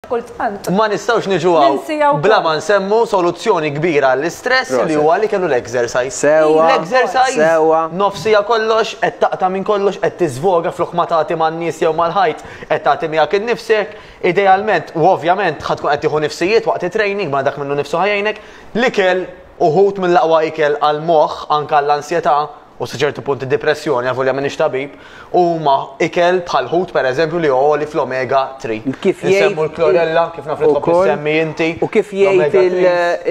Kultant. Ma nistgħux niġu hawn bla ma nsemmu soluzzjoni kbira għall-istress li huwa li kellu l-exercise. Sewa. L-exercise. Sewa. Nofsija kollox qed taqta' minn kollox qed tiżvoga flok ma tagħti man-nies jew mal-ħajt qed tagħti miegħek innifsek. Idealment u ovvjament ħa tkun qed tieħu nifsijiet waqt it-training ma dak minnu nnifsu ħa jgħinek. L-ikel uħud mill-aqwa ikel għall-moħħ anke għall-ansjetà. u sa ċertu punt id-dipressjoni, avolja m'iniex tabib, huma ikel bħal ħut pereżempju li għoli fl-omega 3. Kif jgħid l-klorella, kif naf li tħobb semmi inti. U kif jgħid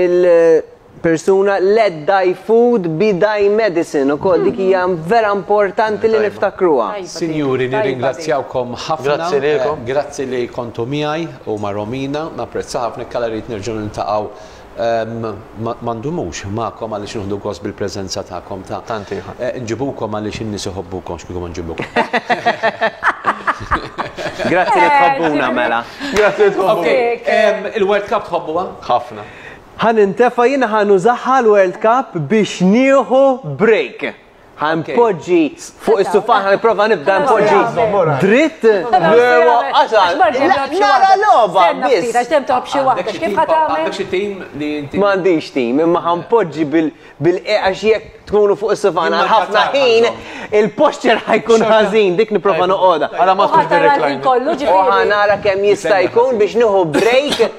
il- persuna let thy food be thy medicine u koll dik hija vera importanti li niftakruha. Sinjuri, nirringrazzjawkom ħafna. Grazzi lilkom. Grazzi li kontu miegħi u ma' Romina, napprezza ħafna kalla rrid nerġgħu niltaqgħu Ma ndumux magħkom għaliex nieħdu gost bil-preżenza tagħkom ta'. Tant ieħor. Nġibukom għaliex in-nies iħobbukom x'kieku ma nġibukom. Grazzi li tħobbuna mela. Grazzi li tħobbuna. Il-World Cup tħobbuha? Ħafna. Ħa nintefa' jiena ħa nużaha l-World Cup biex nieħu break. Ħanpoġġi fuq is-sufan ħanipprova nibda npoġġi dritt. Lewa qasal. Nara logħba biss. Għax dem toħob xi waħda x'kif ħadd tagħmel? Għandek xi tim li inti. M'għandix tim, imma ħanpoġġi bil għax jekk tkunu fuq is-sufan għal ħafna ħin, il-posture ħajkun ħażin, dik nipprova noqogħda. Għala ma tkunx kollu ġifieri. Ħanara kemm jista' jkun biex nieħu break